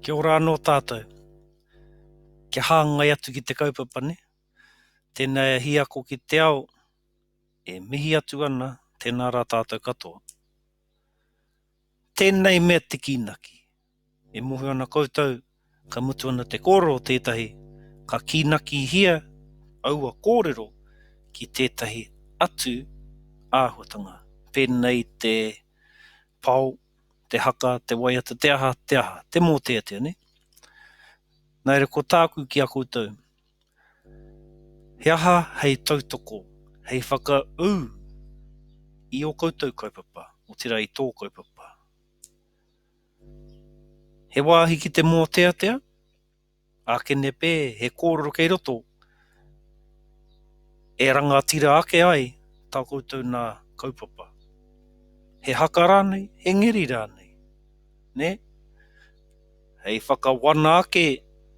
Kia ora anō tātou. Kia hāngai atu ki te kaupapa nei. Tēnā e Hiako ki te Ao, e mihi atu ana, tēnā rā tātou katoa. Tēnei mea te kīnaki. E mōhio ana koutou, Ka mutu ana te kōrero o tētahi, ka kīnakihia aua kōrero ki tētahi atu āhuatanga, pēnei te pao, te haka, te waiata, te aha, te aha, te mōteatea, nē? Nā reira, ko tāku ki a koutou, he aha hei tautoko, hei whakaū i ō koutou kaupapa, otirā i tō kaupapa? He wāhi ki te mōteatea, ake nepe he kōrero kei roto e rangatira ake ai tā koutou nā kaupapa. He haka rānei, he ngeri rānei, nē? Hei whakawana ake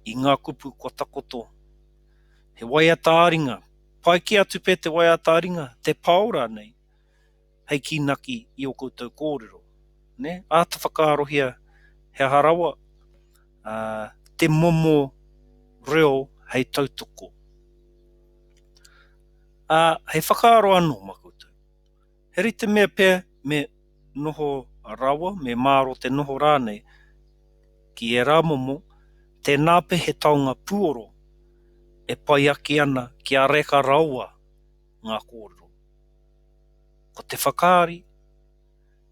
i ngā kupu kua takoto, he waiata ā-ringa, pai kē atu pea te waiata ā-ringa, te pao rānei. hei kīnaki i ō koutou kōrero, nē? Āta whakaarohia he aha rawa te momo reo hei tautoko. Ā, hei whakaaro anō mā koutou, he rite mea pea me noho rawa, me māro te noho rānei ki ērā momo, tēnā pea he taonga puoro e pai ake ana kia reka rawa. ngā kōrero. Ko te whakaari,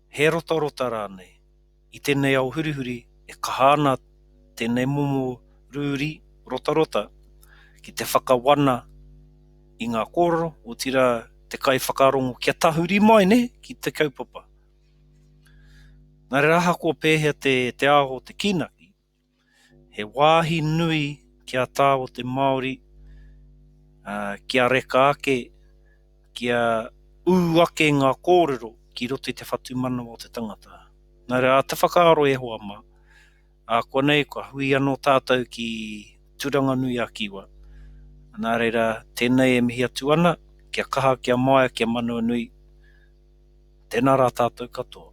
he rotarota rānei, i tēnei ao hurihuri e kaha ana tēnei momo rūri rotarota ki te whakawana i ngā kōrero, otirā te kaiwhakarongo kia tahuri mai nē ki te kaupapa. Engari ahakoa pēhea te ao o te kīnaki, He wāhi nui ki a tāua te Māori kia reka ake, kia ū ake ngā kōrero ki roto i te whatumanawa o te tangata. Nā reira, te whakaaro e hoa mā, ākuanei kua hui anō tātou ki Turanganui-a-Kiwa. Nā reira, tēnei e mihi atu ana, kia kaha, kia māia, kia manawanui. Tēnā rā tātou katoa.